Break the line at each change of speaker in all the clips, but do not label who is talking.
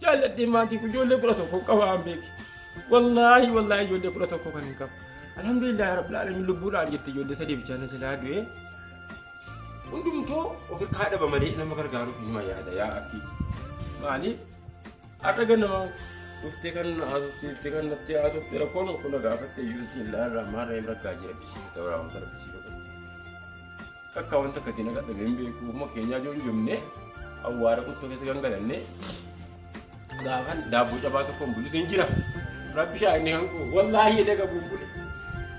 jaalladhee maatii kun ijoollee kudha tokko qaba an beeki. Wallaahi wallaahi ijoollee kudha tokko kan hin qabu. Alhamdulillah rabbil alamin lubbuudhaan jirti ijoollee sadii bichaa na jalaa du'ee. Hundumtuu of irkaa dhaba malee nama gargaaru inuma yaada yaa akki. Maaliif? Har'a ganama dhuftee kan na haasofsiiftee kan natti haasofte rakkoon kun na gaafatte iyyuu siin laarraa maarree rakkaa jira bisiisa ta'uu raawwata rakkisiifata. Kakkaa wanta akkasii na dhadhabe hin beeku. Ofuma keenyaa ijoon jomnee awwaara quttoo keessa gangalannee gaafan daabboo cabaa tokkoon bulus hin jira. Rabbi shaa inni kan koo wallaahi edda qabu hin bule.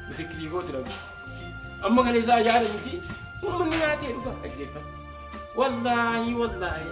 Misikkirii kooti rabbi. Amma kana isaa yaada miti. Uummanni nyaatee dhugaa dhaggeeffata. Wallaahi wallaahi.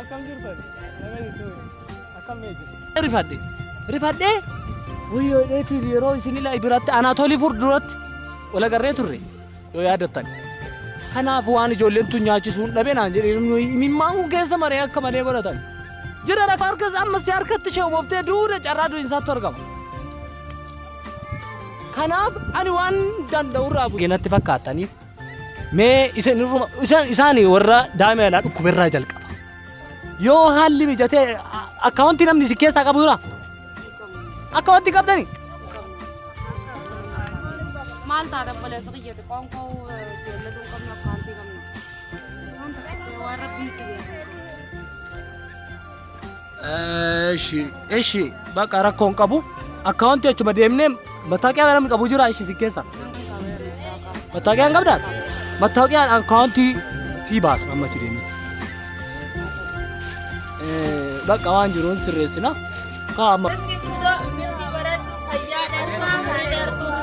Akkam jirtan? Nama jechuun akkam mee jiru? Rifadhe. Rifadhe. Wayyoo dheetiif yeroo isin ilaa biratti Anaatoolii fur duratti wal agarree turre yoo yaadattan. Kanaaf waan ijoolleen tun nyaachisuun dhabe naan jedhee imimmaan kun keessa maree akka malee godhatan. Jira rafa harkas ammas harkatti ishee umoftee duuda carraa du'insaattu argama. Kanaaf ani waan danda'u irraa bu'e natti fakkaataniif Mee isin irruma isaan isaani warra daa'ima yaalaa dhukkuberraa jalqaba. Yoo haalli mijatee a- akkaawuntii namni isin keessaa qabu jira? Akkaawuntii qabdani?
Maal taata obboleessa kiyyati qoonqoo jeelladuu qabna akkaawuntii qabna. Waan ta'eef waan rabbiin itti beeku. Eshi, eshi, baqa
rakkoon qabu. Akkaawuntii achuma deemnee mattaaqiyaa namni qabu jira ishi si keessa. Mattaaqiyaan qabdaa? Mattaaqiyaan akkaawuntii sii baasa amma achi deemnee. Eh, Baqa waan jiruun sirreessina. Kaa amma. Baratu fayyaa darbaa, darbaa.